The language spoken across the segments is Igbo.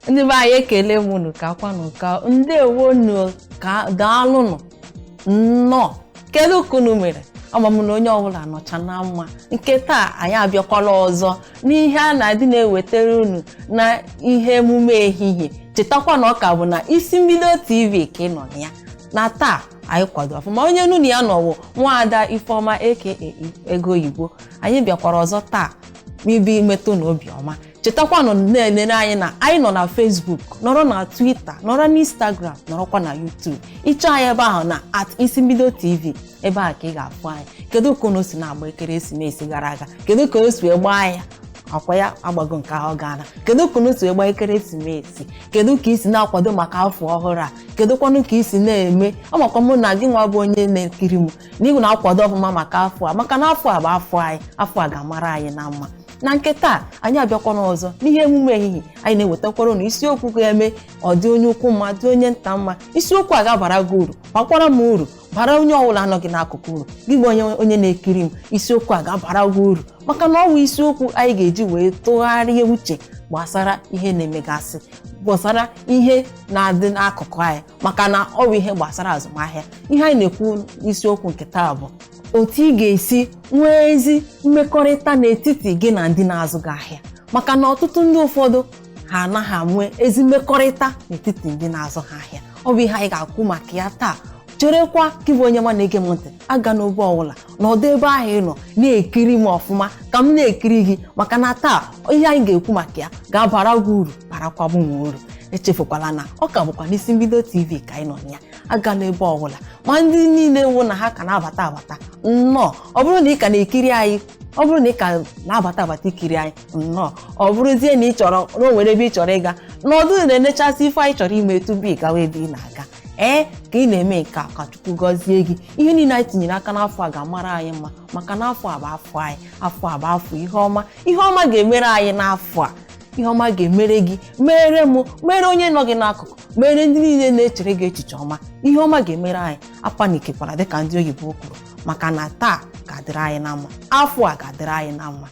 ndị be anyị ekele m unu ka kwanụ ka ndewo nụ ka daalụ nụ nnọọ kedu ka unu mere ama m na onye ọbụla nọcha na mma nke taa anyị abịakwala ọzọ n'ihe a na-adị na-ewetara unu na ihe emume ehihie chetakwa na ọ ka bụ na isi mbido tv ka ị nọ na ya na taa anyị kwado ọfụma onye unu na ya nọ wụ nwaada ifeọma aka ego oyibo anyị bịakwara ọzọ taa ịbịa metụ unu obiọma chetakwanụ na-enere anyị na anyị nọ na Facebook nọrọ na Twitter nọrọ na Instagram nọrọkwa na YouTube ị chọọ anyị ebe ahụ na at isi mbido TV ebe ahụ ka ị ga-afụ anyị kedu ka unu si na-agba ekeresimesi gara aga kedu ka o si wee gbaa ya akwa ya agbago nke ahụ gaana kedu ka unu si wee gbaa ekeresimesi kedu ka i si na-akwado maka afọ ọhụrụ a kedụkwanụ ka i si na-eme amakwa mụ na gị nwa bụ onye na-ekiri m na ị na-akwado ọfụma maka afọ a maka na afọ a bụ afọ anyị afọ a ga-amara anyị na mma na nke taa anyị abịakwana ọzọ n'ihe emume ehihie anyị na-ewetakwara unu isiokwu ga-eme ọ dị onye ukwu mma dị onye nta mma isiokwu a ga-abara gị uru bakwara m uru bara onye ọbụla nọ gị n'akụkụ uru gị bụ onye na-ekiri m isiokwu a ga-abara gị uru maka na ọ bụ isiokwu anyị ga-eji wee tụgharịa uche gbasara ihe na-emegasị gbasara ihe na-adị n'akụkụ anyị maka na ọ bụ ihe gbasara azụmahịa ihe anyị na-ekwu isiokwu nke taa bụ otu ị ga-esi nwee ezi mmekọrịta n'etiti gị na ndị na-azụ gị ahịa maka na ọtụtụ ndị ụfọdụ ha anaghị enwe ezi mmekọrịta n'etiti ndị na-azụ ha ahịa ọ bụ ihe anyị ga-akọ maka ya taa cherekwa gị bụ onye ọma na-ege m ntị agana ebe ọbụla nọdụ ebe ahụ ị nọ na-ekiri m ọfụma ka m na-ekiri gị maka na taa ihe anyị ga-ekwu maka ya ga-abara gị uru barakwa m uru echefukwala na ọ ka bụkwa n'isi mbido tv ka anyị nọ na ya agana ebe ọbụla ma ndị niile wụ na ha ka na-abata abata nnọọ ọ bụrụ na ị ka na-ekiri anyị ọ bụrụ na ị ka na-abata abata ikiri anyị nnọọ ọ bụrụzie na ị chọrọ na o nwere ebe ị chọrọ ịga nọdụ na-enechasị ife anyị chọrọ ime tupu ị gawa ebe ị na-aga ee ka ị na-eme nke a ka chukwu gọzie gị ihe niile anyị tinyere aka n'afọ a ga-amara anyị mma maka na afọ a bụ afọ anyị afọ a bụ afọ ihe ọma ihe ọma ga-emere anyị n'afọ a ihe ọma ga-emere gị mere m mere onye nọ gị n'akụkụ mere ndị niile na-echere gị echiche ọma ihe ọma ga-emere anyị apanikekwara dịka ndị oyibo kwuru maka na taa ga-adịrị anyị na mma afọ a ga-adịrị anyị na mma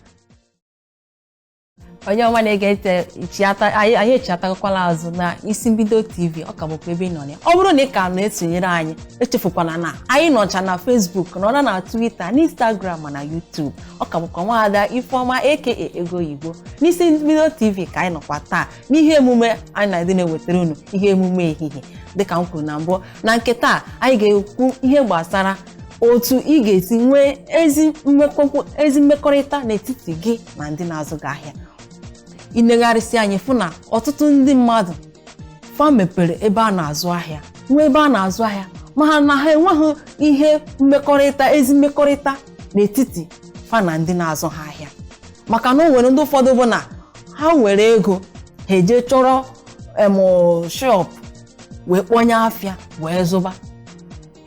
onye ọma na-ege ntị chiata anyị anyị echiatakwala azụ na isi mbido tv ọ ka bụkwa ebe ị nọ ya ọ bụrụ na ị ka na-esonyere anyị echefukwana na anyị nọcha na facebook nọrọ na twitter na instagram ma na youtube ọ ka bụkwa nwaada ifeọma aka ego oyibo n'isi mbido tv ka anyị nọkwa taa n'ihe emume anyị na-adị na-ewetara unu ihe emume ehihie dịka m kwuru na mbụ na nke taa anyị ga-ekwu ihe gbasara otu ị ga-esi nwee ezi mmekọkwu- ezi mmekọrịta n'etiti gị na ndị na-azụ gị ahịa inegharịsịa anya ịfụ na ọtụtụ ndị mmadụ fa mepere ebe a na-azụ ahịa nwee ebe a na-azụ ahịa mana ha enweghị ihe mmekọrịta ezi mmekọrịta n'etiti fa na ndị na-azụ ha ahịa maka na o nwere ndị ụfọdụ bụ na ha nwere ego ha eje chọrọ em shop wee kpọnye afịa wee zụba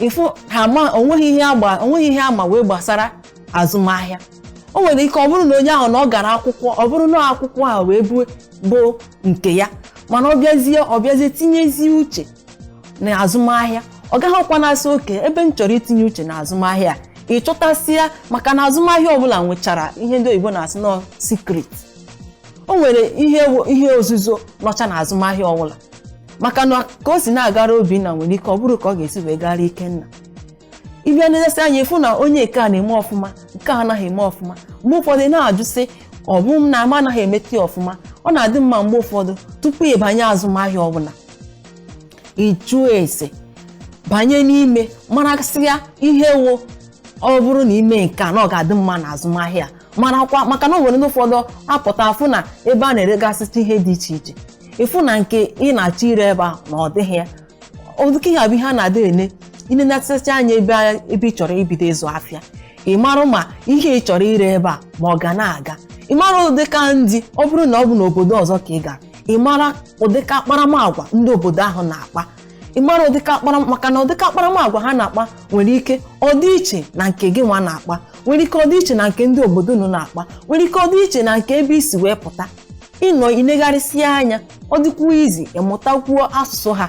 ịfụ ha ma onweghị ihe agba onweghị ihe ha ma wee gbasara azụmahịa o nwere ike ọ bụrụ na onye ahụ na ọ gara akwụkwọ ọ bụrụ na akwụkwọ ahụ wee bụ bụ nke ya mana ọ bịazie ọ bịazie tinyezie uche na azụmahịa ọ gaghịkwa na-asị okay ebe m chọrọ itinye uche na azụmahịa ị chọtasịa maka na azụmahịa ọbụla nwechara ihe ndị oyibo na-asị na ọ secret o nwere ihe ihe ozuzo nọcha na azụmahịa ọbụla maka na ka o si na-agara obinna nwere ike ọ bụrụ ka ọ ga-esi wee gara ikenna ịbịa na-elesi anya ịfụ na onye nke a na-eme ọfụma nke a anaghị eme ọfụma mgbe ụfọdụ na-ajụ sị ọ bụ m na m anaghị emete ọfụma ọ na-adị mma mgbe ụfọdụ tupu ịbanye azụmahịa ọbụla ịjụọ ese banye n'ime marasịa ihe wụ ọ bụrụ na ime nke a na ọ ga-adị mma na azụmahịa marakwa maka na o nwere ndị ụfọdụ apụta afụ na ebe a na-eregasịcha ihe dị iche iche ịfụ na nke ị na-achọ ire ebe a na ọ dịghị ya ụdịka ihe a bụ ihe a na-adị ene ịnenetịcha anya ebe a- ebe ị chọrọ ibido ịzụ afịa ị marụ ma ihe ị chọrọ ire ebe a ma ọ ga na-aga ị marụ ụdịka ndị ọ bụrụ na ọ bụ n'obodo ọzọ ka ị gara ị mara ụdịka akparamagwa ndị obodo ahụ na-akpa ị mara ụdịka akpara maka na ụdịka akparamagwa ha na-akpa nwere ike ọ dị iche na nke gị nwa na-akpa nwere ike ọ dị iche na nke ndị obodo unu na-akpa nwere ike ọ dị iche na nke ebe i si wee pụta ịnọ inegharịsịa anya ọ dịkwuo easy ịmụtakwuo asụsụ ha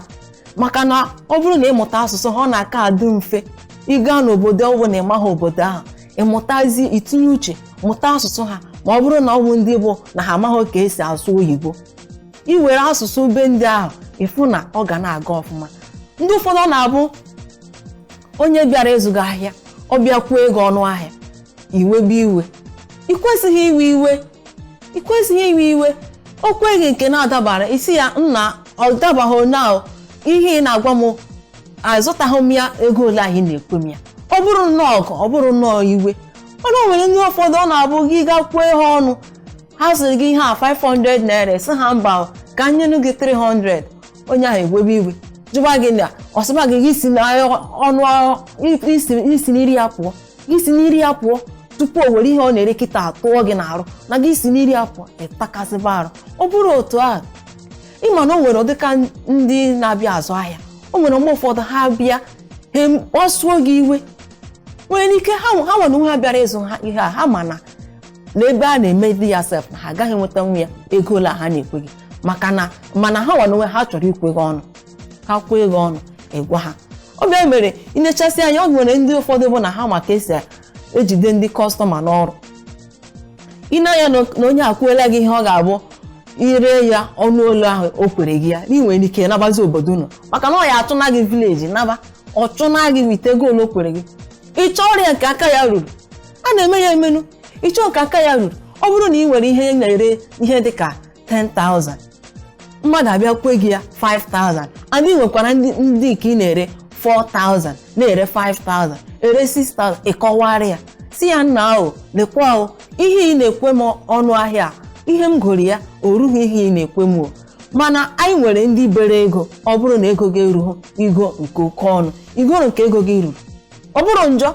maka na ọ bụrụ na ịmụta asụsụ ha ọ na-aka adị mfe ịga n'obodo ọ bụ na ịmaghị obodo ahụ ịmụtazi itinye uche mụta asụsụ ha ma ọ bụrụ na ọ bụ ndị bụ na ha amaghị ka esi asụ oyibo iwere asụsụ be ndị ahụ ịfụ na ọ ga na-aga ọfụma ndị ụfọdụ ọ na-abụ onye bịara ịzụ gị ahịa ọ bịa kwee gị ọnụ ahịa iwebe iwe ị kwesịghị iwe iwe ị kwesịghị iwe iwe o kwee gị nke na-adabara ị sị ya nna ọ dabaghị na ihe ị na-agwa m azụtaghị m ya ego ole ahụ ị na-ekwe m ya ọ bụrụ nnọọ ọgụ ọ bụrụ nnọọ iwe mana o nwere ndị ụfọdụ ọ na-abụ gị gaa kwuo ihe ọnụ ha sịrị gị ihe a 500 naira sị ha mba o, ka m nyenu gị 300 onye ahụ ewebe iwe jụba gị na ọ sịba gị gị si na ọnụ ahụ- i si i si n'iru ya pụọ gị si n'iru ya pụọ tupu o were ihe ọ na-ere kịtaa tụọ gị n'arụ na gị si n'iru ya pụọ ịtakasịba arụ ọ bụrụ otu ahụ ị ma na o nwere ụdị ka ndị na-abịa azụ ahịa o nwere mgbe ụfọdụ ha bịa ha kpasuo gị iwe nwere ike ha ha nwere onwe ha bịara ịzụ ha ihe a ha ma na n'ebe a na-emedi ya sef na ha agaghị enwetanwu ya ego ole a ha na-ekwe gị maka na mana ha nwere onwe ha chọrọ ikwe gị ọnụ ha kwee gị ọnụ ị gwa ha ọ bịa mere inechasị anya o nwere ndị ụfọdụ bụ na ha ma ka e si ejide ndị customer n'ọrụ ị na-anya na onye a kwela gị ihe ọ ga-abụ i ree ya ọnụ ole ahụ o kwere gị ya na ị nwere ike nabazi obodo unu maka na ọ ya-achụna gị village naba ọ chụna gị with ego ole o kwere gị ị chọọrọ ya nke aka ya ruru a na-eme ya emenu ị chọọ nke aka ya ruru ọ bụrụ na ị nwere ihe ị na-ere ihe dị ka 10,000 mmadụ abịa kwee gị ya 5,000 and ị nwekwara ndị ndị nke ị na-ere 4,000 na-ere 5,000 ere 6,000 ị kọwara ya sị ya nnaa o lekwa o ihe ị na-ekwe m ọnụ ahịa a, ihe m goro ya o rughị ihe ị na-ekwe m o mana anyị nwere ndị bere ego ọ bụrụ na ego gị erughị igo nke oke ọnụ i goro nke ego gị ruru ọ bụrọ njọ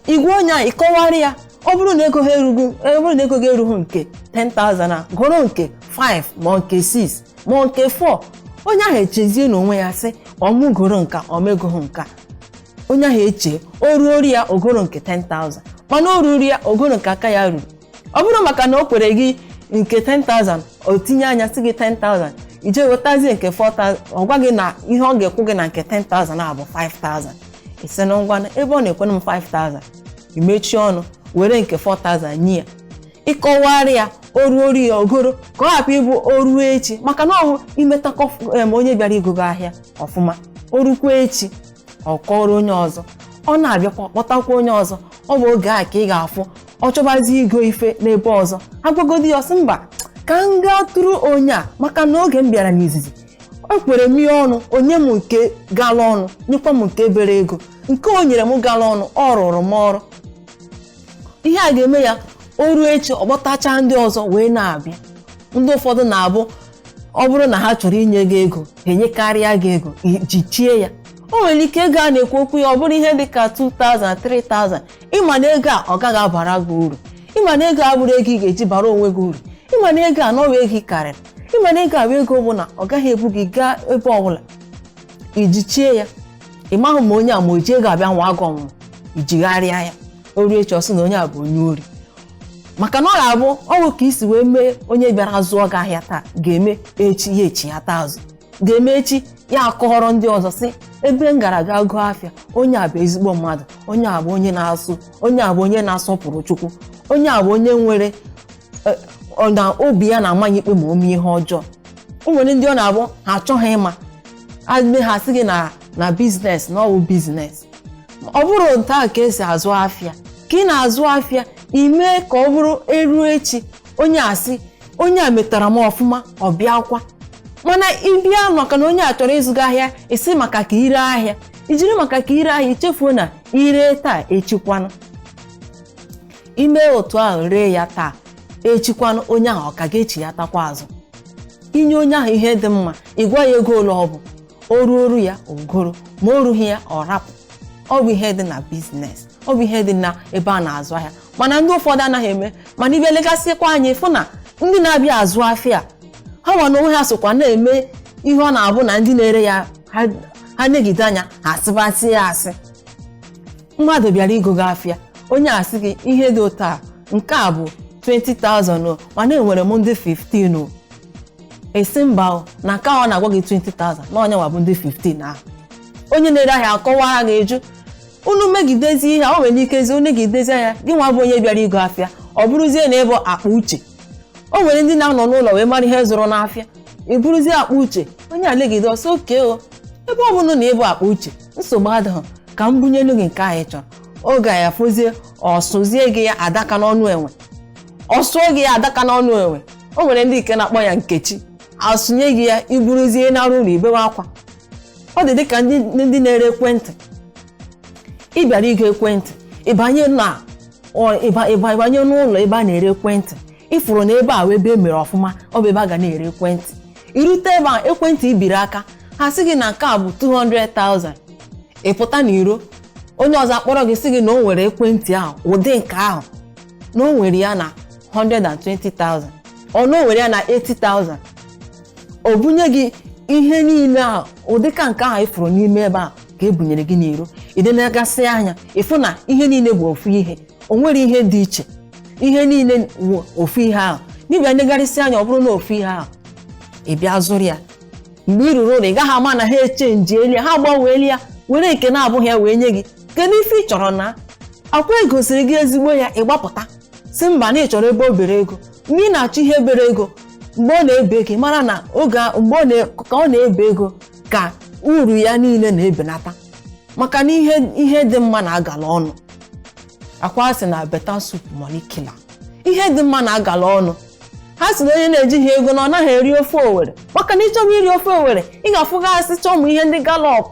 ị gwa onye a ị kọwara ya ọ bụrụ na ego ha erughị ọ bụrụ na ego gị erughị nke 10,000 a goro nke 5 ma ọ nke 6 ma ọ nke 4 onye ahụ echezie n'onwe ya sị ọ mụ goro nke a ọ m egoghị nke a onye ahụ eche o ruoro ya o goro nke 10,000 mana o ruru ya o goro nke aka ya ruru ọ bụrụ maka na o kwere gị nke 10,000 o tinye anya sị gị 10,000 i jee wetazie nke 4,000 ọ gwa gị na ihe ọ ga-akwụ gị na nke 10,000 a bụ 5,000 ị sị na ngwa ebe ọ na-ekwe m 5,000 i mechie ọnụ were nke 4000 nye ya ị kọwara ya o ruoro ya o goro ka ọ hapụ ịbụ o ruo echi maka na ọ bụ i meta kọ- em, onye bịara igo gị ahịa ọfụma o rukwa echi ọ kọrọ onye ọzọ ọ na-abịakwa kpọtakwa onye ọzọ ọ bụ oge a ka ị ga-afụ ọ chọbazi igo ife n'ebe ọzọ a gwagodi ya ọ sị mba ka m gaa tụrụ onye a maka na oge m bịara n'izizi o kwere m ihe ọnụ o nye m nke gala ọnụ nyekwa m nke bere ego nke o nyere m gala ọnụ ọ rụrụ m ọrụ ihe a ga-eme ya o ruo echi ọ kpọtachaa ndị ọzọ wee na-abịa ndị ụfọdụ na-abụ ọ bụrụ na ha chọrọ inye gị ego ha enyekarịa gị ego ijichie ya o nwere ike ego a na-ekwu okwu ya ọ bụrụ ihe dị ka 2000 3000 ịma na ego a ọ gaghị abara gị uru ịma na ego a abụrọ ego ị ga-eji bara onwe gị uru ịma na ego a na ọwụ ego ị karịrị ịma na ego a bụ ego bụ na ọ gaghị ebu gị gaa ebe ọbụla ijichie ya ị maghị ma onye a ma o ji ego abịa nwaa gị ọnwụnwa ijigharịa ya o ruo echi ọ sị na onye a bụ onye ori maka na ọ ga-abụ ọ bụ ka isi wee mee onye bịara zụọ gị ahịa taa ga-eme echi ya echiyata azụ ga-eme echi ya akọrọ ndị ọzọ sị ebe m gara ga goo afịa onye a bụ ezigbo mmadụ onye a bụ onye na-asụ onye a bụ onye na-asọpụrụ chukwu onye a bụ onye nwere eh, ọ na obi ya na-ama ya ikpe ma o mee ihe ọjọọ o nwere ndị ọ na-abụ ha achọghị ịma adịbe ha sị gị na na biznes na ọwụ biznes ọ bụrọ otu a ka esi azụ afịa ka ị na-azụ afịa ime ka ọ bụrụ eruo echi onye a sị onye a metara m ọfụma ọ bịakwa mana ịbịa maka na onye a chọrọ ịzụ gị ahịa isi maka ka ire ahịa ijiri maka ka ire ahịa ichefuo na ire taa echi kwanụ ime otu ahụ ree ya taa echi kwanụ onye ahụ ọ ka ga-echiyatakwa azụ inye onye ahụ ihe dị mma ịgwa ya ego ole ọ bụ o ruoro ya o goro ma o rughị ya ọ rapụ ọ bụ ihe dị na biznes ọ bụ ihe dị na ebe a na-azụ ahịa mana ndị ụfọdụ anaghị eme mana ịbịa legasịkwa anya ịfụ na ndị na-abịa azụ afịa ha nwa na onwe ha sokwa na-eme ihe ọ na-abụ na ndị na-ere ya ha- ha negide anya ha asịbasị ya asị mmadụ bịara igo gị afịa onye a sị gị ihe dị otu a nke a bụ 20,000 o, mana enwere m ndị 15 o ịsị mba o, na nke ahụ ọ na-agwa gị 20,000 na ọ ya nwa bụ ndị 15 ahụ onye na-ere ahịa akọwara gị ịjụ unu megidezi ihe a, o nwere ikezi o negidezi anya gị nwa bụ onye bịara igo afịa ọ bụrụzie na ịbụ akpa uche o nwere ndị na-anọ n'ụlọ wee mara ihe zụrụ n'afịa ị bụrụzie akpa uche onye a legide ọ sị okay o ebe ọ bụrụ na ịbụ akpa uche nsogbu adịghị ka m bunyelu gị nke a ị chọrọ oge afụzie ọsụzie gị ya adaka n'ọnụ enwe ọsụọ gị ya adaka n'ọnụ enwe o nwere ndị nke na-akpọ ya nkechi asụnye gị ya iburuzie naruo ụlọ ibewe akwa ọ dị dịka ndị ndị na-ere ekwentị ị bịara igo ekwentị ịbanye na ọ- ịba- ịba- ịbanye n'ụlọ ebe a na-ere ekwentị ịfụrụ na ebe a wụ ebe e mere ọfụma ọ bụ ebe a ga na-ere ekwentị irute ebe ahụ ekwentị i biri aka ha sị gị na nke a bụ 200,000 ị pụta n'iro onye ọzọ akpọrọ gị sị gị na o nwere ekwentị ahụ ụdị nke ahụ na o nwere ya na 120,000 or na o nwere ya na 80,000 o bunye gị ihe niile ahụ ụdịka nke ahụ ịfụrụ n'ime ebe a ka e bunyere gị n'iro ị na-enegasị anya ịfụ na ihe niile bụ ofu ihe o nwere ihe dị iche ihe niile bụ ofu ihe ahụ ị bịa negharịsị anya ọ bụrụ na ofu ihe ahụ ị bịa zụrụ ya mgbe ị ruru ụlọ ị gaghị ama na ha echenjiela ya ha agbanweela ya were nke na-abụghị ya wee nye gị kedu ife ị chọrọ na akwa egosiri gị ezigbo ya ị gbapụta sị mba na ị chọrọ ebe o bere ego mgbe ị na-achọ ihe bere ego mgbe ọ na-ebe ego mara na oge a- mgbe ọ na- ka ọ na-ebe ego ka uru ya niile na-ebenata maka na ihe ihe dị mma na-agala ọnụ akwa asị na better soup money kill am ihe dị mma na-agala ọnụ ha sị na onye na-ejighị ego na ọ naghị eri ofe owere maka na ịchọba iri ofe owere ị ga-afụgasịcha ụmụ ihe ndị gallop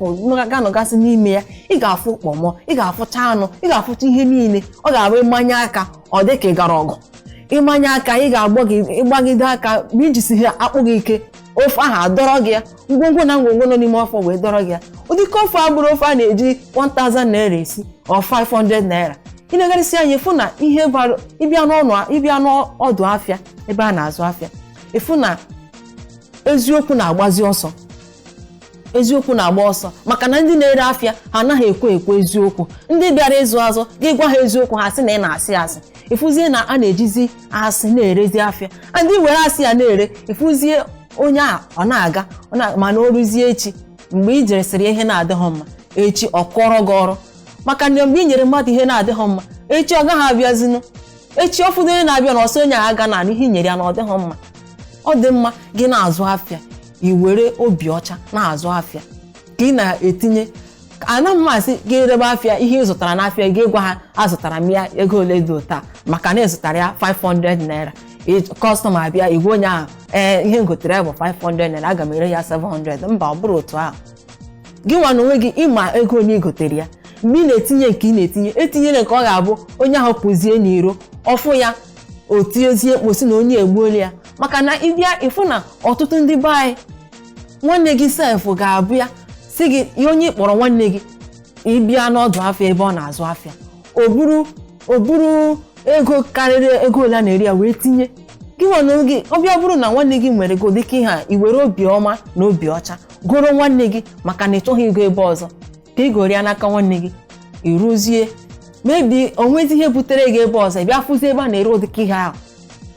ga-anọgasị n'ime ya ị ga-afụ kpọmọ ị ga-afụcha anụ ị ga-afụcha ihe niile ọ ga-abụ ịmanye aka ọ dị ka ị gara ọgụ ịmanye aka ị ga-agbagide aka ma ijisighị akpụ gị ike ofe ahụ adọrọ gị ya ngwongwo na ngwongwo nọ n'ime ofe wee dọrọ gị ya ụdịka ofe a bụrụ ofe a na-eji 1000 naira esi or 500 naira ị negharịsị anya ịfụ na ihe bara ịbịa n'ọnụ ịbịa n'ọdụ afịa ebe a na-azụ afịa ịfụ na eziokwu na-agbazi ọsọ eziokwu na-agba ọsọ maka na ndị na-ere afịa ha anaghị ekwe ekwu eziokwu ndị bịara ịzụ azụ gị gwa ha eziokwu ha sị na ị na-asị asị ịfụzie na a na-ejizi asị na-erezi afịa ndị were asị ya na-ere ịfụzie onye a ọ na-aga ọ na- mana o ruzie echi mgbe i ji resịrị ya ihe na-adịghị mma echi ọ kụọrọ gị ọrụ maka na mgbe i nyere mmadụ ihe na-adịghị mma echi ọ gaghị abịazinụ echi ọ fụdụ onye na-abịanụ ọ sị onye ahụ agana na ihe i nyere ya na ọ dịghị mma ọ dị mma gị na-azụ afịa i were obi ọcha na-azụ afịa ka ị na-etinye ana m asị gị erebe afịa ihe ị zụtara n'afịa gị gwa ha azụtara m ya ego ole dị otu a maka na ị zụtara ya 500 naira customer bịa ị gwa onye ahụ ee ihe ngotere ya bụ 500 naira aga m ere ya 700 mba ọ bụrọ otu ahụ gị nwa na onwe gị ịma ego ole i gotere ya mgbe ị na-etinye nke ị na-etinye etinyena nke ọ ga-abụ onye ahụ pụzie n'iro ọfụ ya o tinyezie mkpu sị na onye egbuola ya maka na ịbịa ịfụ na ọtụtụ ndị be anyị nwanne gị sef ga-abịa si gị ya onye ị kpọrọ nwanne gị ịbịa n'ọdụ afịa ebe ọ na-azụ afịa o buru o buru ego karịrị ego ole a na-ere ya wee tinye gị nwanne gị ọbịa bụrụ na nwanne gị nwere ụdịka ihe a i were obi ọma na obi ọcha goro nwanne gị maka na ị chọghị igo ebe ọzọ ka ị goro ya n'aka nwanne gị iruzie maybe onwezi ihe butere gị ebe ọzọ ị bịa fụzie ebe a na-ere ụdịka ihe ahụ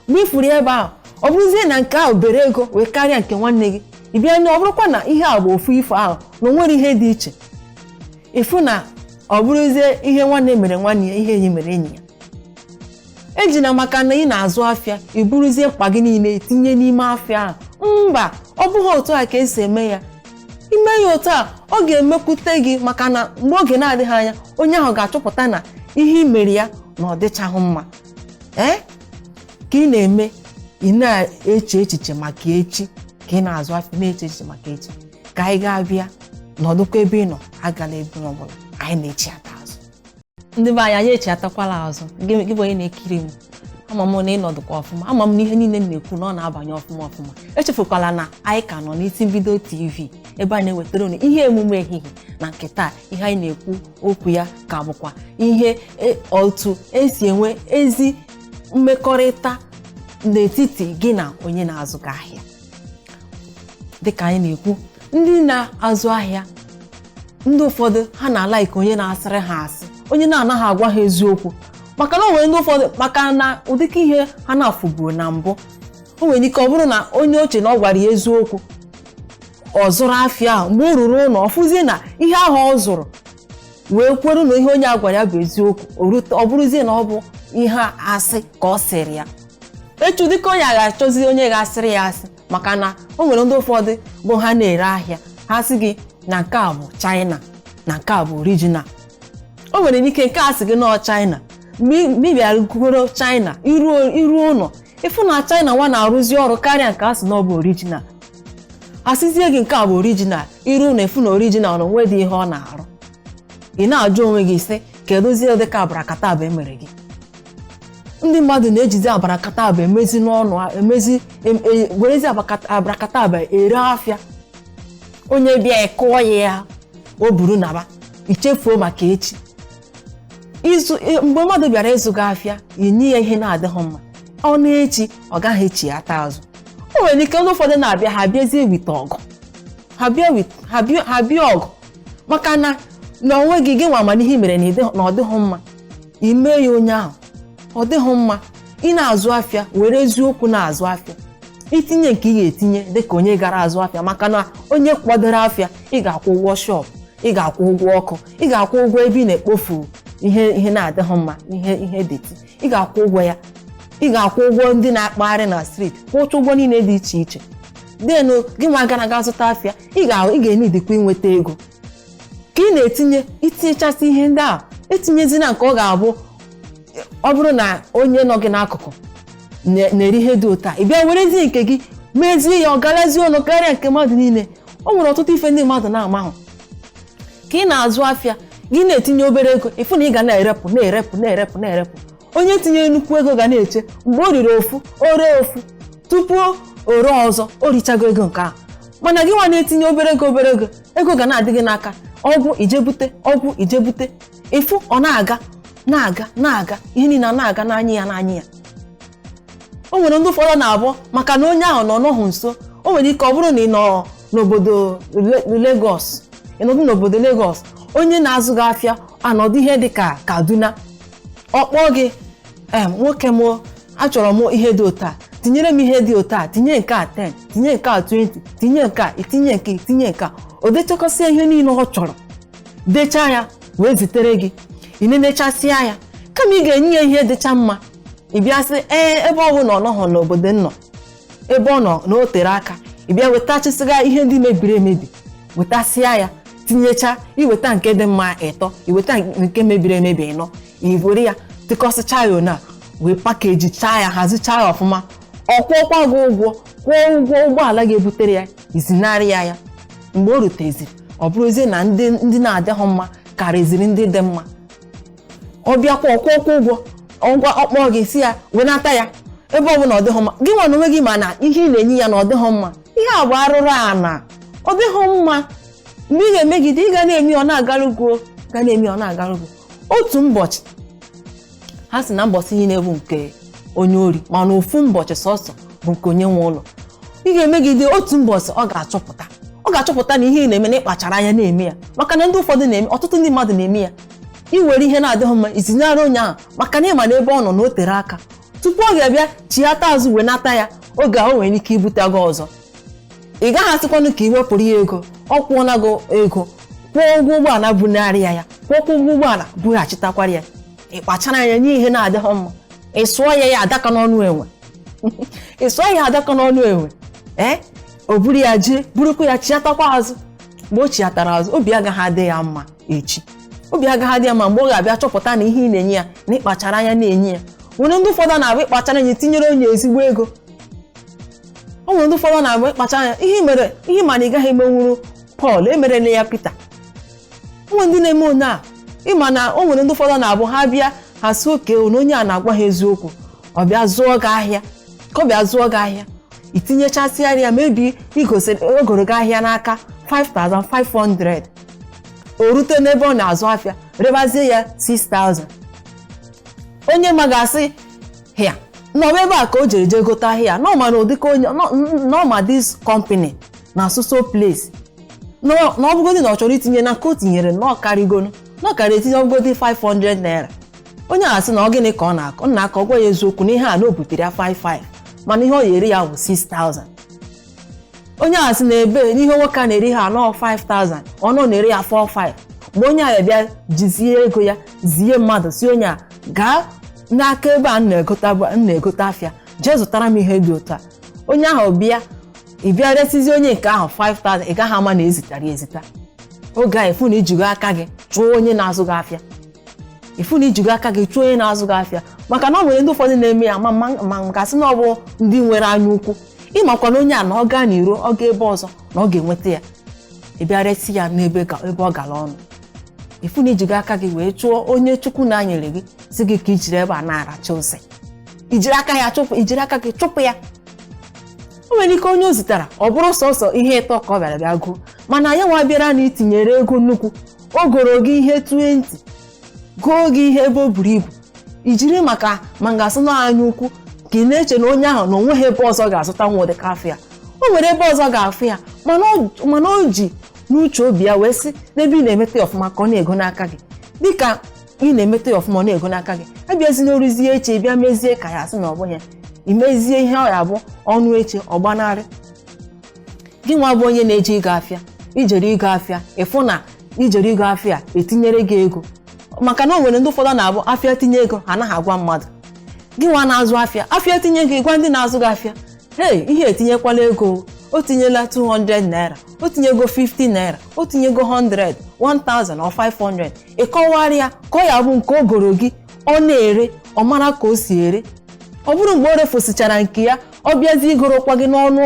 mgbe ifuru ya ebe ahụ ọ bụrụzie na nke ahụ bere ego wee karịa nke nwanne gị ị bịa na ọ bụrụkwa na ihe a bụ ofu ife ahụ na o nwere ihe dị iche ịfụ na ọ bụrụzie ihe nwanne mere nwanne ya ihe enyi mere enyi ya ejina maka na ị na-azụ afịa i buruzie mkpa gị niile tinye n'ime afịa ahụ mba ọ bụghị otu a ka esi eme ya ime ya otu a ọ ga-emekwute gị maka na mgbe oge na-adịghị anya onye ahụ ga-achọpụta na ihe i mere ya na ọ dịchaghị mma ee ka ị na-eme ị na-eche echiche maka echi ka ị na-azụ afịa na-eche echiche maka echi ka anyị gaa bịa nọdụkwa ebe ị nọ agala ebe ọ bụla anyị na-echighata azụ ndị be anyị anyị echighatakwala azụ gị gị bụ onye na-ekiri m ama m na ị nọdụkwa ọfụma ama m na ihe niile m na-ekwu na ọ na-abanye ọfụma ọfụma echefukwala na anyị ka nọ n'isi mbido tv ebe a na-ewetara unu ihe emume ehihie na nke taa ihe anyị na-ekwu okwu ya ka bụkwa ihe e- otu esi enwe ezi mmekọrịta n'etiti gị na onye na-azụ gị ahịa dịka anyị na-ekwu ndị na-azụ ahịa ndị ụfọdụ ha na-alaiki onye na-asịrị ha asị onye na-anaghị agwa ha eziokwu maka na o nwere ndị ụfọdụ maka na ụdịka ihe ha na-afụbuo na mbụ o nwere ike ọ bụrụ na onye o che na ọ gwara ya eziokwu ọ zụrụ afịa ahụ mgbe o ruru ụlọ ọ fụzie na ihe ahụ ọ zụrụ wee kwere na ihe onye a gwara ya bụ eziokwu o rute- ọ bụrụzie na ọ bụ ihe asị ka ọ sịrị ya echi ụdịka onye a ga-achọzi onye ga-asịrị ya asị maka na o nwere ndị ụfọdụ bụ ha na-ere ahịa ha sị gị na nke a bụ China na nke a bụ original o nwere ike nke a sị gị na ọ China mgbe ị- mgbe ị bịara go- goro China iruo iruo ụlọ ịfụ na China nwa na-arụzi ọrụ karịa nke a sị na ọ bụ original asịzie gị nke a bụ original iru ụlọ ịfụ na original na o nwedị ihe ọ na-arụ ị na-ajụ onwe gị sị kedụzie ụdịka abarakataba e mere gị ndị mmadụ na-ejizi abarakataba emezi n'ọnụ werezi abarakataba ere afịa onye bịa ị kụọ ya ya o buru naba ichefuo maka echi izu e- mgbe mmadụ bịara ịzụ gị afịa inye ya ihe na-adịghị mma ọ na-echi ọ gaghị echighata azụ o nwere ike ndị ụfọdụ na-abịa ha bịazie with ọgụ ha bịa wit- ha bịa- ha bịa ọgụ maka na na onwe gị gị nwa ma na ihe i mere na ịdị- na ọ dịghị mma i mee ya onye ahụ ọ dịghị mma ị na-azụ afịa were eziokwu na-azụ afịa itinye nke ị ga-etinye dịka onye gara azụ afịa maka na onye kwadoro afịa ị ga-akwụ ụgwọ shop ị ga-akwụ ụgwọ ọkụ ị ga-akwụ ụgwọ ebe ị na-ekpofu ihe ihe na-adịghị mma ihe ihe deti ị ga-akwụ ụgwọ ya ị ga-akwụ ụgwọ ndị na-akpagharị na streeti kwụcha ụgwọ niile dị iche iche denu gị nwa gara aga zụta afịa ị ga- ị ga-enidikwa inweta ego ka ị na-etinye i tinyechasị ihe ndị a etinyezina nke ọ ga-abụ ọ bụrụ na onye nọ gị n'akụkụ na- na-ere ihe dị otu a ị bịa werezie nke gị mezie ya ọ garazie ọnụ karịa nke mmadụ niile o nwere ọtụtụ ife ndị mmadụ na-amahụ ka ị na-azụ afịa gị na-etinye obere ego ị fụ na ị ga na-erepụ na-erepụ na-erepụ na-erepụ onye tinye nnukwu ego ga na-eche mgbe o rere ofu o ree ofu tupu o ree ọzọ o richago ego nke ahụ mana gị nwa na-etinye obere ego obere ego ego ga na-adị gị n'aka ọ gwụ i jee bute ọ gwụ i jee bute ị fụ ọ na-aga na-aga na-aga ihe niile a na-aga n'anya ya n'anya ya o nwere ndị ụfọdụ na-abụ maka na onye ahụ nọ nọhụ nso o nwere ike ọ bụrụ na ị nọ n'obodo Le- Lagos ị nọdụ n'obodo Lagos onye na-azụ gị afịa anọdụ ihe dị ka Kaduna ọ kpọọ gị em nwoke m achọrọ m ihe dị otu a tinyere m ihe dị otu a tinye nke a 10 tinye nke a 20 tinye nke a i tinye nke i tinye nke a o dechakọsịa ihe niile ọ chọrọ dechaa ya wee zitere gị ị nenechasịa ya kama ị ga-enye ya ihe dịcha mma ị bịa sị ee ebe ọ bụ na ọ nọghọ n'obodo m nọ ebe ọ nọ na o tere aka ị bịa wetachasịga ihe ndị mebiri emebi wetasịa ya tinyecha i weta nke dị mma ịtọ i weta nke mebiri emebi ịnọ i were ya tịkọsịcha ya ọnụ wee pakeji chaa ya hazichaa ya ọfụma ọ kwụọkwa gị ụgwọ kwụọ ụgwọ ụgbọala ga-ebutere ya i zinarị ya ya mgbe o ruteziri ọ bụrụzie na ndị ndị na-adịghị mma karịziri ndị dị mma ọ bịakwa ọ kwụọ ọ kwụọ ụgwọ ọ gwa ọ kpọọ gị ị sị ya wenata ya ebe ọ bụ na ọ dịghị mma gị nwa n'onwe gị ma na ihe ị na-enye ya na ọ dịghị mma ihe a bụ arụrụ ana ọ dịghị mma mgbe ị ga-emegide ị ga na-eme ọ na-agarugo ga na-eme ọ na-agarugo otu ụbọchị ha sị na mbọsị niile bụ nke onye ori mana ofu mbọchị sọsọ bụ nke onye nwe ụlọ ị ga-emegide otu mbọchị ọ ga-achọpụta ọ ga-achọpụta na ihe ị na-eme na ị kpachara anya na-eme ya maka na ndị ụfọdụ na-eme ọtụtụ ndị mmadụ na-eme ya i were ihe na-adịghị mma i zinyere onye ahụ maka na ị ma na ebe ọ nọ na o tere aka tupu ọ ga-abịa chighata azụ wenata ya oge ahụ nwere ike ibute gị ọzọ ị gaghị asịkwanụ ka ị wepụrụ ya ego ọ kwụọla gị ego kwụọ ụgwọ ụgbọala bunarị ya ya kwụọ ụgwọ ụgbọala bughachitakwara ya ị kpachara anya nye ihe na-adịghị mma ị sụọ ya ya adaka n'ọnụ enwe ị sụọ ya adaka n'ọnụ enwe ee o buru ya jee burukwa ya chiatakwa azụ mgbe o chiatara azụ obi agaghị adị ya mma echi obi agaghị adị ya mma mgbe ọ ga-abịa chọpụta na ihe ị na-enye ya na ị kpachara anya na-enye ya nwere ndị ụfọdụ na-abụ ị kpachara anya tinyere onye ezigbo ego o nwere ndị ụfọdụ na-abụ ị kpachara anya ihe mere ihe ma na ị gaghị emenwuru Pọl emerela ya Pita o nwere ndị na-eme onye a ị ma na o nwere ndị ụfọdụ na-abụ ha bịa ha sị okay na onye a na-agwa ha eziokwu ọ bịa zụọ gị ahịa ka ọ bịa zụọ gị ahịa i tinyechasịara ya maybe o goro gị ahịa n'aka 5500 o rute n'ebe ọ na-azụ afịa rebazie ya 6000 onye ma ga-asị ya na ọ bụ ebe a ka o jere jee gote ahịa na ọ ma na ụdịka onye na ọ ma this company na so so place na ọ bụgodị na ọ chọrọ itinye na nke o tinyere na ọ karịgonu na ọ kara etinye ọ bụgodị 500 naira onye a sị na ọ gịnị ka ọ na-akọ ọ na-akọ ọ gwa ya eziokwu na ihe a na o butere ya 55 mana ihe ọ ya-ere ya bụ 6000 onye a sị na ebe n'ihe nwoke a na-ere ha anọ 5000 ọ nọ na-ere ya 45 mgbe onye a bịa jizie ego ya zie mmadụ sị onye a gaa n'aka ebe a m na-egota bụ- m na-egote afịa jee zụtara m ihe dị otu a onye ahụ bịa ị bịa resizi onye nke ahụ 5000 ị gaghị ama na e zitara ya ezita oge a ị fụ na i jigo aka gị chụọ onye na-azụ gị afịa ị fụ na i jigo aka gị chụọ onye na-azụ gị afịa maka na o nwere ndị ụfọdụ na-eme ya ma ma ma ga-asị na ọ bụ ndị nwere anya ukwu ị makwara onye a na ọ gaa n'iro ọ gaa ebe ọzọ na ọ ga-enweta ya ị bịa resi ya n'ebe ga- ebe ọ gara ọnụ ị fụ na i jigo aka gị wee chụọ onye chukwu na-enyere gị sị gị ka i jiri ebe a na-aracha ose i jiri aka ya chụpụ i jiri aka gị chụpụ ya o nwere ike onye o zitara ọ bụrụ sọsọ ihe ịtọ ka ọ bịara bịa goo mana ya nwa bịara na i tinyere ego nnukwu o goro gị ihe 20 goo gị ihe ebe o buru ibu i jiri maka ma m ga-asị na anya ukwu ka ị na-eche na onye ahụ na o nweghị ebe ọzọ ọ ga-azụta nwa ụdịka afịa o nwere ebe ọzọ ọ ga-afụ ya mana ọ- mana o ji n'uche obi ya wee sị n'ebe ị na-emeta ya ọfụma ka ọ na-ego n'aka gị dịka ị na-emeta ya ọfụma ọ na-ego n'aka gị ị bịazie na o ruzie echi bịa mezie ka ya asị na ọ bụghị ya i mezie ihe ọ ya bụ o ruo echi ọ gbanarị gị nwa bụ onye na-eje igo afịa i jere igo afịa ị fụ na i jere igo afịa e tinyere gị ego maka na o nwere ndị ụfọdụ na-abụ afịa tinye ego ha anaghị agwa mmadụ gị nwa na-azụ afịa afịa tinye ego ị gwa ndị na-azụ gị afịa hey ihe etinyekwala ego o tinyela 200 naira o tinyego 50 naira o tinyego 100 1000 or 500 ị kọwara ya ka ọ ya bụ nke o goro gị ọ na-ere ọ mara ka o si ere ọ bụrụ mgbe o refosichara nke ya ọ bịazie igorokwa gị n'ọnụ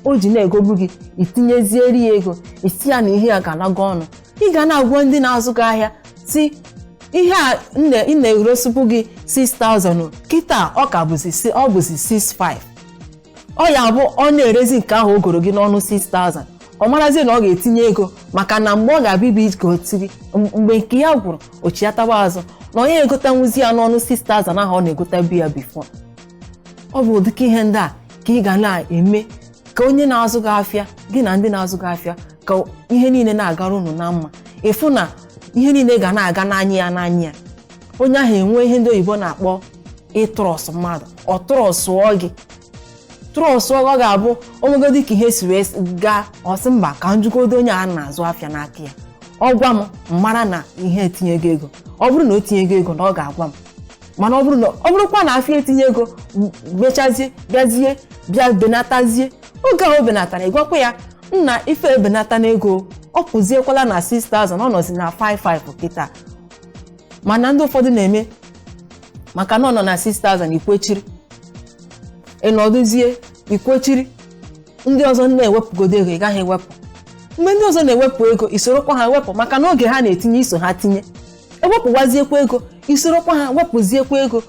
o ji na-egobu gị i tinyeziere ya ego ị sị ya na ihe a aganago ọnụ ị ga na-agwa ndị na-azụ gị ahịa sị ihe a a na-eresibu gị 6000 kịta ọ ka bụzi ọ bụzi 65 ọ ya bụ ọ na-erezi nke ahụ o goro gị n'ọnụ 6000 ọ marazie na ọ ga-etinye ego maka na mgbe ọ ga-abịa ibe iji ka o tiri mgbe nke ya gwụrụ o chiatawa azụ na ọ ya-egotanwuzi ya n'ọnụ 6000 ahụ ọ na-egotabu ya before ọ bụ ụdịka ihe ndị a ka ị ga na-eme ka onye na-azụ gị afịa gị na ndị na-azụ gị afịa ka ihe niile na-agara unu na mma ị fụ na ihe niile ga na-aga n'anya ya n'anya ya onye ahụ enwe ihe ndị oyibo na-akpọ ịtrust mmadụ ọ trustụọ gị trustụọ gị ọ ga-abụ o nwegodi ka ihe si wee gaa ọ sị mba ka m jụgodo onye a na-azụ afịa n'aka ya ọ gwa m m mara na ihe etinyego ego ọ bụrụ na o tinyego ego na ọ ga-agwa m mana ọ bụrụ na ọ bụrụkwa na afịa etinye ego m- mechazie bịazie bịa benatazie oge ahụ o benatara ị gwakwa ya nna ife ebenata n'ego ọ pụziekwala na 6000 ọ nọzi na 55 kịta mana ndị ụfọdụ na-eme maka na ọ nọ na 6000 i kwechiri ị nọdụzie i kwechiri ndị ọzọ na-ewepụgodo ego ị gaghị ewepụ mgbe ndị ọzọ na-ewepụ ego i sorokwa ha wepụ maka na oge ha na-etinye i so ha tinye ewepụwaziekwa ego i sorokwa ha wepụziekwa ego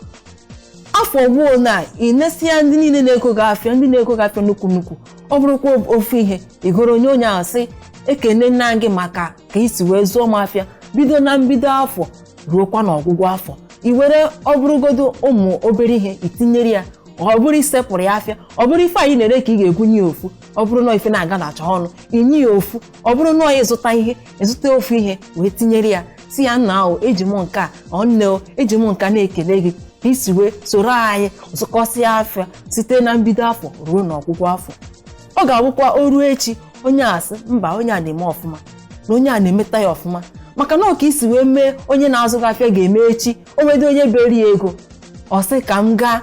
afọ gwuo na i nesịa ndị niile na-ego gị afịa ndị na-ego gị afịa nnukwu nnukwu ọ bụrụkwa ofu ihe i goro onye onye ahụ sị ekenena m gị maka ka i si wee zụọ m afịa bido na mbido afọ ruokwa na ọgwụgwụ afọ i were ọ bụrụgodo ụmụ obere ihe i tinyere ya ọ bụrụ i sepụrụ ya afịa ọ bụrụ ife anyị na-ere ka ị ga-ebunye ya ofu ọ bụrụ na ife na-aga na achọ ọnụ i nye ya ofu ọ bụrụ na onye zụta ihe ị zụta ofu ihe wee tinyere ya sị ya nna ahụ eji m nke a ọ nne o eji m nka na-ekele gị ka i si wee soro anyị zụkọsịa afịa site na mbido afọ ruo n'ọgwụgwụ afọ ọ ga-abụkwa o ruo echi onye a sị mba onye a na-eme ọfụma na onye a na-emeta ya ọfụma maka na ọ ka i si wee mee onye na-azụ gị afịa ga-eme echi o nwedị onye beri ya ego ọ sị ka m gaa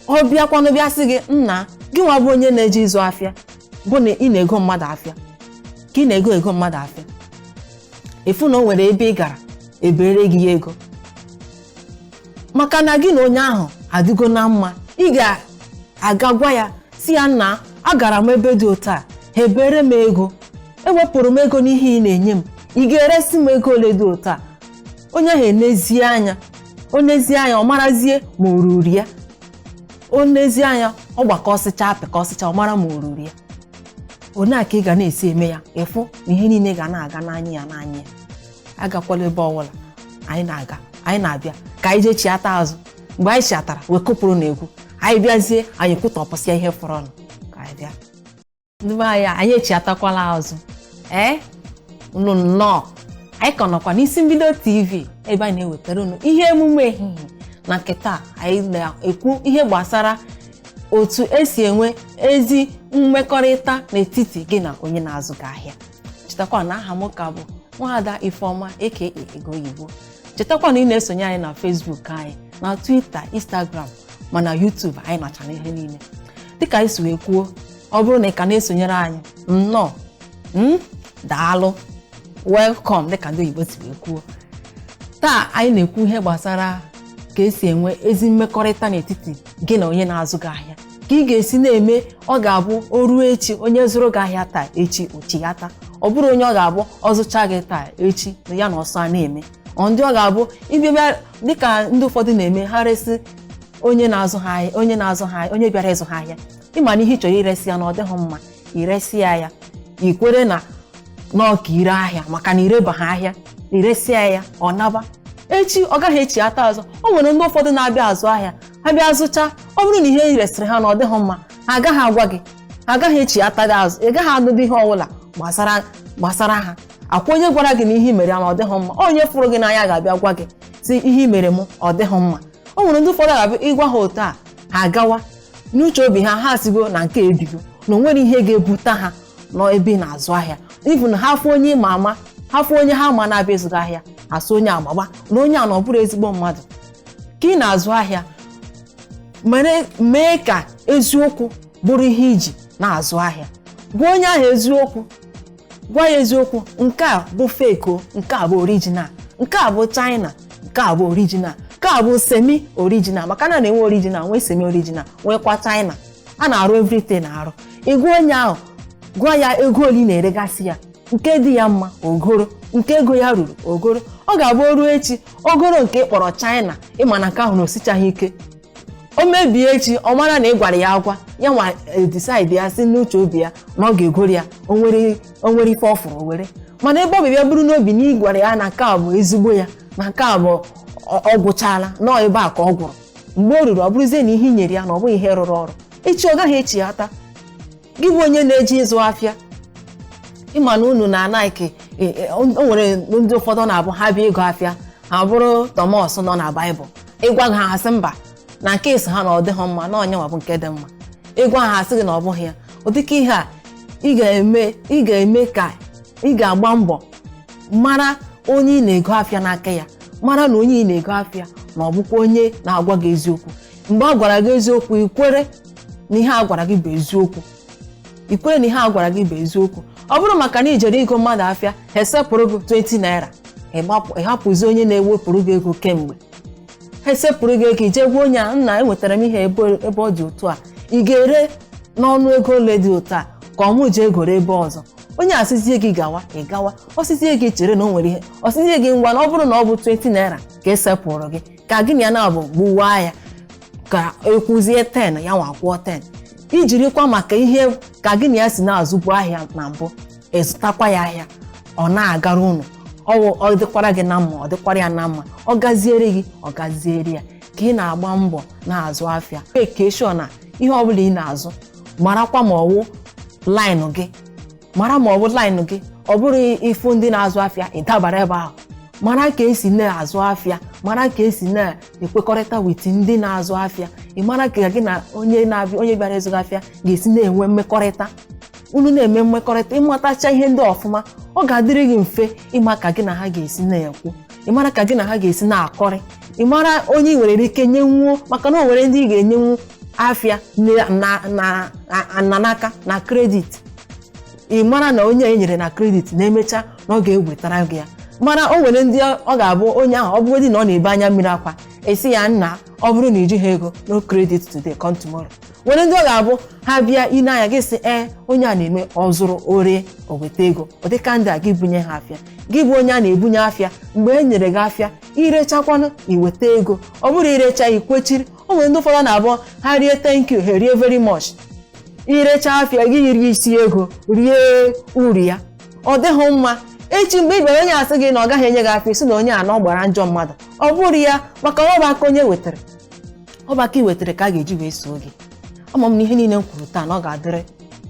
ọ bịakwanụ bịa sị gị nna gị nwa bụ onye na-eje ịzụ afịa bụ na ị na-ego mmadụ afịa ka ị na-ego mmadụ afịa ị fụ na o nwere ebe ị gara e beere gị ya ego maka na gị na onye ahụ adịgo na mma ị ga-aga gwa ya sị ya nna agara m ebe dị otu a ha ebeere m ego e wepụrụ m ego n'ihe ị na-enye m ị ga-eresi m ego ole dị otu a onye ahụ enezie anya o nezie anya ọ marazie ma o ruru ya o nezie anya ọ gbakọsịcha pịkọsịcha ọ mara ma o ruru ya one a ka ị ga na-esi eme ya ị fụ na ihe niile ga na-aga n'anya ya n'anya ya agakwala ebe ọbụla na anyị na-abịa ka anyị jee chiata azụ mgbe anyị chiatara wee kụpụrụ na egwu anyị bịazie anyị kwutapụsịa ihe fọrọnụ ka anyị bịa ndị be anyị anyị echiatakwala azụ ee unu nnọọ anyị ka nọkwa n'isi mbido tv ebe anyị na-ewetara unu ihe emume ehihie na nke taa anyị na-ekwu ihe gbasara otu esi enwe ezi mmekọrịta n'etiti gị na onye na-azụ gị ahịa chetakwa na aha m ka bụ nwaada ifeọma aka ego oyibo chetakwa na ị na-esonye anyị na facebook anyị na twitter instagram ma na youtube anyị nọcha n'ihe niile dịka anyị si wee kwuo ọ bụrụ na ị ka na-esonyere anyị nnọọ mm, daalụ welcome dịka ndị oyibo si wee kwuo taa anyị na-ekwu ihe gbasara ka esi enwe ezi mmekọrịta n'etiti gị na onye na-azụ gị ahịa ka ị ga-esi na-eme ọ ga-abụ o ruo echi onye zụrụ gị ahịa taa echi o chiata ọ bụrụ onye ọ ga-abụ ọ zụcha gị taa echi na ya na ọsọ a na-eme ọ ndị ọ ga-abụ ịbịa bịa dịka ndị ụfọdụ na-eme ha resị onye na-azụ ha ahịa onye bịara ịzụ ha ahịa ịma na ihe ị chọrọ iresi ya na ọ dịghị mma iresi ya ya ikwere na n'ọka ire ahịa maka na irebaghị ahịa iresi ya ya ọ naba echi ọ gaghị echiata azụ o nwere ndị ụfọdụ na-abịa azụ ahịa ha bịa zụcha ọ bụrụ na ihe i resịrị ha na ọ dịghị mma ha agaghị agwa gị ha agaghị echiata gị azụ ị gaghị anụdị ihe ọbụla gbasara ha akwa onye gwara gị na ihe i mere ya na ọ dịghị mma onye fụrụ gị n'anya ga-abịa gwa gị sị ihe i mere m ọ dịghị mma o nwere ndị ụfọdụ ga-abịa ịgwa ha otu a ha agawa n'uche obi ha ha sịgo na nke ebigo na o nwerọ ihe ga-ebute ha n'ebe ị na-azụ ahịa even ha fụ onye ịma ama ha fụ onye ha ma na-abịa ịzụ gị ahịa asị onye agbagba na onye a na ọ bụrọ ezigbo mmadụ ka ị na-azụ ahịa mee ka eziokwu bụrụ ihe iji na-azụ ahịa gwa onye ahụ eziokwu gwa ya eziokwu nke a bụ fake o nke a bụ original nke a bụ china nke a bụ original nke a bụ semi original maka na na-enwe original nwee semi original nweekwa china a na-arụ everything arụ ị gwa onye ahụ gwa ya ego ole ị na-eregasị ya nke dị ya mma o goro nke ego ya ruru o goro ọ ga-abụ o ruo echi o goro nke ị kpọrọ china ịma na nke ahụ na o sichaghị ike o mebie echi ọ mara na ị gwara ya agwa ya nwa decide ya si n'uche obi ya na ọ ga-egoro ya o nwere ife ọ fụrụ o were mana ebe ọ bịa buru n'obi na ị gwara ya na nke a bụ ezigbo ya na nke a bụ ọ ọ gwụchaala nọọ ebe a ka ọ gwụrụ mgbe o ruru ọ bụrụzie na ihe i nyere ya na ọ bụghị ihe rụrụ ọrụ echi ọ gaghị echiata gị bụ onye na-eje ịzụ afịa ịma na unu na anaghị o nwere ndị ụfọdụ ọ na-abụ ha bịa igo afịa ha bụrụ Thomas nọ na Baịbụl ịgwa ha asị mba na nke ị sị ha na ọ dịghị mma na ọ nyanwa bụ nke dị mma ịgwa ha asị gị na ọ bụghị ya ụdịka ihe a ị ga-eme ka ị ga-agba mbọ mara onye ị na-ego afịa n'aka ya mara na onye ị na-ego afịa na ọ bụkwa onye na-agwa gị eziokwu mgbe a gwara gị eziokwu ikwere na ihe a gwara gị bụ eziokwu ikwere na ihe a gwara gị bụ eziokwu ọ bụrụ maka na ijere ịgo mmadụ afịa ha esepụrụ gị 20 naira ịgbapụ- ịhapụzi onye na-ewepụrụ gị ego kemgbe ha esepụrụ gị ego ije gwa onye a nna enwetara m ihe ebe ebe ọ dị otu a ị ga-ere n'ọnụ ego ole dị otu a ka mụ ji egoro ebe ọzọ onye asịzie gị gawa ị gawa ọ sịzie gị chere na o nwere ihe ọ sịzie gị ngwa na ọ bụrụ na ọ bụ 20 naira ka esepụrụ gị ka gị na ya nabọ gbuwaa ya ka ị kwụzie 10 ya nwa kwụọ 10 ijirikwa maka ihe ka gị na ya si na-azụbu ahịa na mbụ ịzụtakwa ya ahịa ọ na-agara unu ọ dịkwara gị na mma ọ dịkwara ya na mma ọ gaziere gị ọ gaziere ya ka ị na-agba mbọ na-azụ afịa make sure na ihe ọbụla ị na-azụ marakwa ma ọ wụ line gị mara ma ọ bụ line gị ọ bụrọ ị fụ ndị na-azụ afịa ịdabara ebe ahụ mara ka esi na-azụ afịa mara ka esi na-ekwekọrịta with ndị na-azụ afịa ị mara ka gị na onye na-abịa onye bịara ịzụ gị afịa ga-esi na-enwe mmekọrịta unu na-eme mmekọrịta ịmatacha ihe ndị a ọfụma ọ ga-adịrị gị mfe ịma ka gị na ha ga-esi na-ekwu ị mara ka gị na ha ga-esi na-akọrị ị mara onye ị nwere ike nyenwuo maka na o nwere ndị ị ga-enyenwu afịa na- na- na- na- na n'aka na credit ị mara na onye e nyere na credit na emecha na ọ ga-ewetara gị ya mana o nwere ndị ọ ga-abụ onye ahụ ọ bụgodị na ọ na-ebe anya mmiri akwa asị ya nna ọ bụrụ na ijighi ego no credit today come tomorrow nwere ndị ọ ga-abụ ha bịa ile anya gị sị ee onye a na-eme ọ zụrụ o ree o weta ego ọ dịka ndị a gị bunye ha afịa gị bụ onye a na-ebunye afịa mgbe e nyere gị afịa irechakwanụ iweta ego ọ bụrọ irecha ikwechiri o nwere ndị ụfọdụ na-abụ ha rie thank you ha rie very much irecha afịa gị rie isi ego rie uru ya ọ dịghị mma echi mgbe ị bịara onye asị gị na ọ gaghị enye gị afịa sị na onye a na ọ gbara ajọ mmadụ ọ bụrọ ya maka na ọ bụ aka onye wetara ọ bụ aka i wetara ka a ga-eji wee soo gị ama m na ihe niile m kwuru taa na ọ ga-adịrị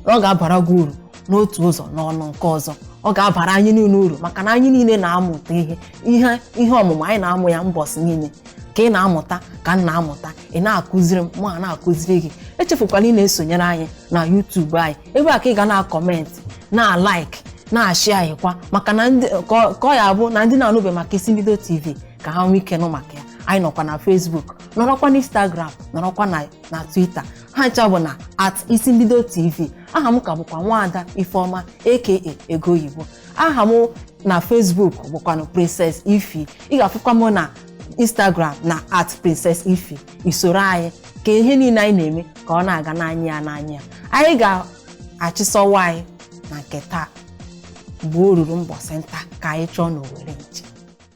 na ọ ga-abara gị uru n'otu ụzọ n'ọnụ nke ọzọ ọ ga-abara anyị niile uru maka na anyị niile na-amụta ihe ihe ihe ọmụmụ anyị na-amụ ya mbọsị niile ka ị na-amụta ka m na-amụta ị na-akụziri m m na-akụziri gị echefukwala ị na-esonyere anyị na YouTube anyị ebe a ka ị ga na-acomment na-alike na-ashare anyị kwa maka na ndị ka ọ- ka ọ ya-abụ na ndị na-anụbe maka isi mbido TV ka ha nwee ike nụ maka ya anyị nọkwa na Facebook nọrọkwa na Instagram nọrọkwa na na Twitter ha ncha bụ na at isi mbido tv aha m ka bụkwa nwaada ifeọma aka ego oyibo aha m na facebook bụkwanụ princess ify ị ga-afụkwa m na instagram na at princess ify isoro anyị ka ihe niile anyị na-eme ka ọ na-aga n'anya ya n'anya ya anyị ga-achịsa ọwa anyị na nke taa mgbe o ruru mbọsị nta ka anyị chụọ n'owere nchi